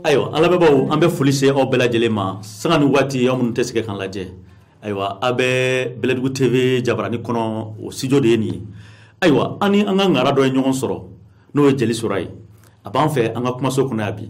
ayiwa an lamɛnbaaw an bɛ foli se aw bɛɛ lajɛlen ma sanga ni waati aw minnu tɛ sɛgɛn k'an lajɛ ayiwa a bɛ bɛlɛdugu tv jabarani kɔnɔ o studio de ye nin ye ayiwa an ni an ka ŋara dɔ ye ɲɔgɔn sɔrɔ n'o ye jeli sora ye a b'an fɛ an ka kumaso kɔnɔ yan bi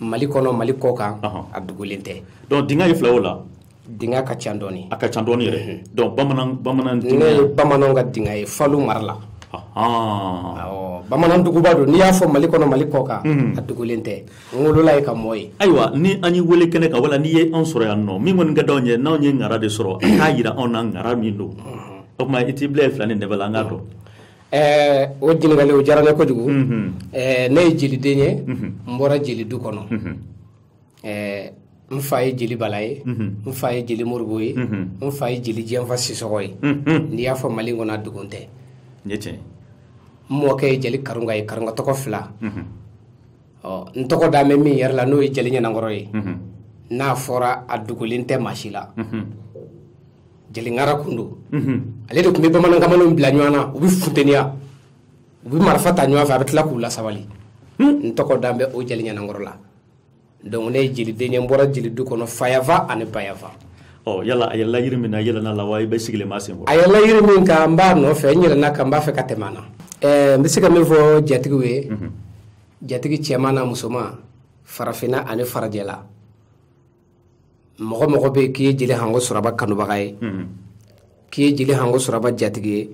mali kɔnɔ mali kɔ kan a dugulen tɛ donc dinga ye filaw la dinga ka ca dɔɔni a ka ca dɔɔni yɛrɛ mhm. donc bamanan bamanan ne ye bamananw ka dinga ye falu mara la bamanan duguba don n'i y'a fɔ mali kɔnɔ mali kɔ kan mhm. a dugulen tɛ n wolola yen ka mɔ yen ayiwa ni an y'i wele kɛnɛ kan wala n'i ye anw sɔrɔ yan nɔ min kɔni ka d'anw ye n'anw ye ŋara de sɔrɔ a k'a yira anw na ŋara min don mhm. o tuma i t'i bila ye fila ni dɛbɛ la an k'a dɔn Ɛɛ o ɲininkali o diyara ne kojugu ɛɛ ne ye jeliden ye n bɔra jeli du kɔnɔ ɛɛ n fa ye jeli bala ye n fa ye jeli moribo ye n fa ye jeli jɛnfa sisɔgɔ ye n'i y'a fɔ mali kɔnɔ a dogon tɛ n ye tiɲɛ n mɔkɛ ye jeli karunga ye karunga tɔgɔ fila ɔ n tɔgɔ dan bɛ min yɛrɛ la n'o ye jeli ɲanankɔrɔ ye n'a fɔra a dogolen tɛ maa si la jeli ŋara tun don ale de tun bɛ bamanankamalen bila ɲɔgɔn na u bɛ funteniya u bɛ marifa ta ɲɔgɔn fɛ a bɛ tila k'u lasabali hmm. n tɔgɔ dan bɛ o jeli ɲanankɔrɔ la donc ne ye jeliden ye n bɔra jelidu kɔnɔ fayanfan ani bayanfan ɔ yala a yɛlɛla yiri min na yɛlɛna la wa i bɛ sigilen ma sen kɔrɔ a yɛlɛla yiri min kan n b'a nɔfɛ n yɛlɛna a kan n b'a fɛ ka tɛmɛ a na eh, n bɛ se ka min fɔ jatigiw ye mhm. jatigi cɛman n'a musoman farafinna ani farajɛla mɔgɔ mɔgɔ bɛ yen k'i ye jeli hango suraba kanubaga ye mhm. k'i ye jeli hango suraba jatigi ye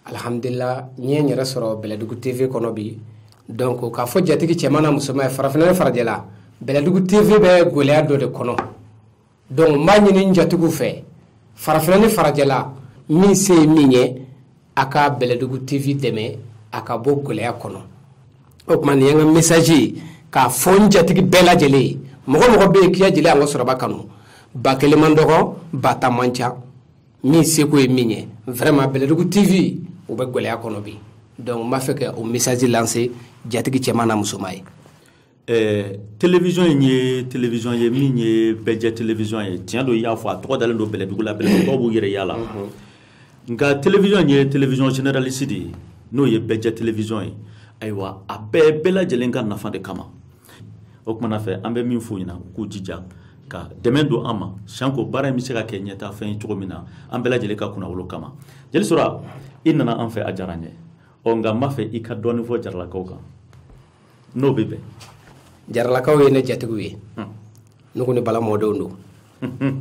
alihamudulila n ye n yɛrɛ sɔrɔ bɛlɛdugu tv kɔnɔ bi donc k'a fɔ jatigi cɛman n'a musoman ye farafinna ni farajɛla bɛlɛdugu tv bɛ gɛlɛya dɔ de kɔnɔ donc n b'a ɲini n jatigiw fɛ farafinna ni farajɛla min se ye min ye a ka bɛlɛdugu tv dɛmɛ a ka bɔ gɛlɛya kɔnɔ o tuma nin ye n ka mesaji ye k'a fɔ n jatigi bɛɛ lajɛlen ye mɔgɔ mɔgɔ bɛ yen k'i ye jeli hango suraba kanu ba kelen man dɔgɔ ba tan man ca min seko ye min ye vraiment bɛlɛdugu tv o bɛ gɛlɛya kɔnɔ bi donc n b'a fɛ ka o mesaji lanse jatigi cɛman n'a musoman ye ɛɛ telewisɔn in ye telewisɔn ye min ye bɛɛjɛ telewisɔn ye tiɲɛ don i y'a fɔ a tɔgɔ dalen don bɛlɛdugu la bɛlɛdugukaw b'u yɛrɛ y'a la nka telewisɔn in ye telewisɔn generalisi de ye n'o ye bɛɛjɛ telewisɔn ye ayiwa a bɛɛ bɛɛ lajɛlen ka nafa de kama o kumana fɛ an bɛ min f'u ɲɛna u k'u jija ka dɛmɛ don an ma sanko baara in bɛ se ka kɛ ɲɛtaafɛn ye cogo min na an bɛɛ lajɛlen ka kunnawolo kama jeli sora i nana an fɛ a diyara n ye ɔ nka n b'a fɛ i ka dɔɔnin fɔ jaralakaw kan n'o bɛ bɛn jaralakaw ye ne jatigiw ye hmm. ne ko ni bala mɔdenw don hmm.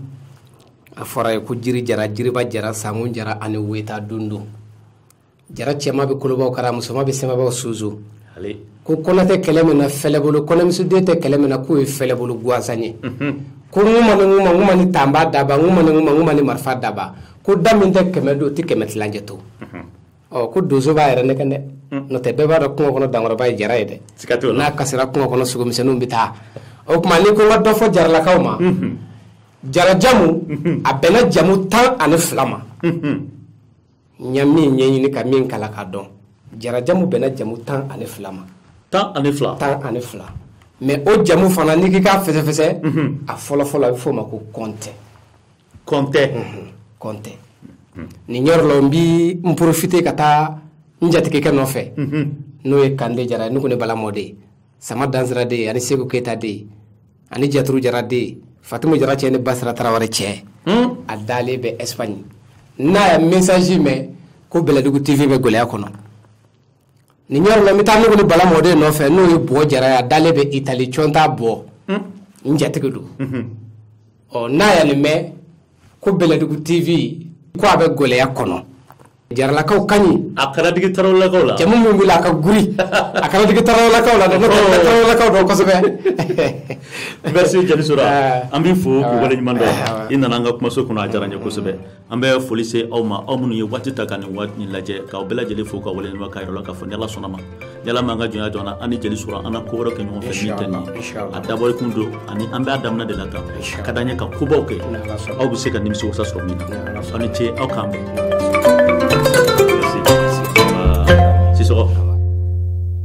a fɔra ye ko jiri jara jiriba jara sankun jara ani weta don don jara cɛma bɛ kolobaw kara musoma bɛ sɛmɛbaw susu ko kɔnɛ tɛ kɛlɛ min na fɛlɛbolo kɔnɛmusoden tɛ kɛlɛ min na k'o ye fɛlɛbolo gansan ye hmm. ko n ma ni n ma n ma ni tanba daba n ma ni n ma n ma ni marifa daba ko da min tɛ kɛmɛ don o tɛ kɛmɛ tilancɛ to ɔ ko donso b'a yɛrɛ nɛgɛn dɛ hmm. n'o tɛ bɛɛ b'a dɔn kungo kɔnɔ dankɔrɔba ye jara ye dɛ n'a kasira kungo kɔnɔ sogomisɛnninw bɛ taa o tuma ni ko n ka dɔ fɔ jaralakaw ma hmm. jarajamu hmm. a bɛnna jamu tan ani fila ma n ye min ɲɛɲini ka min kalan k'a dɔn jarajamu bɛnna jamu tan ani fila ma tan ani fila tan ani fila mɛ o jamu fana n'i k'i k'a fɛsɛfɛsɛ a fɔlɔfɔlɔ a bɛ f'o ma ko kɔntɛ kɔntɛ kɔntɛ nin yɔrɔ la n bi n porofite ka taa n jatigikɛ nɔfɛ n'o ye kande jara ne ko ne bala mɔden sama dansira den ani seku keyita den ani jaturu jara den fatimu jara cɛ ni basira tarawele cɛ hmm? a dalen bɛ espagne n'a ye message mɛn ko bɛlɛdugu tv bɛ gɛlɛya kɔnɔ nin yɔrɔ la n bɛ taa nuguli bala mɔden nɔfɛ n'o ye bɔ jara ye a dalen bɛ itali cɔnta bɔ hmm? n jatigi don mhm. ɔ n'a ye nin mɛn ko bɛlɛdugu tv ko a bɛ gɛlɛya kɔnɔ jaralakaw kaɲi a kana digi tarawelelakaw la jamu min wuli a ka guri a kana digi tarawelelakaw la dɛ n'o tɛ oh. tarawelelakaw dɔn kosɛbɛ merci jeli sora ah. an b'i fo k'i waleɲuman dɔn ah. i nana an ka kumaso kɔnɔ a diyara n ye kosɛbɛ an bɛ foli se aw ma aw minnu ye waati ta ka nin waati nin lajɛ k'aw bɛɛ lajɛlen fo ka waleɲuman k'a yir'aw la k'a fɔ ni ala sɔnn'a ma ni ala m'an ka jɔnya jɔ an ni jeli sora an na ko wɛrɛ kɛ ɲɔgɔn fɛ min tɛ nin a dabɔli kun don ani an b'a daminɛ de la tan a ka d'an ye ka kobaw kɛ aw bɛ se ka nimisiwasa sɔrɔ min na aw ni ce aw k'an bɛn sisɔgɔ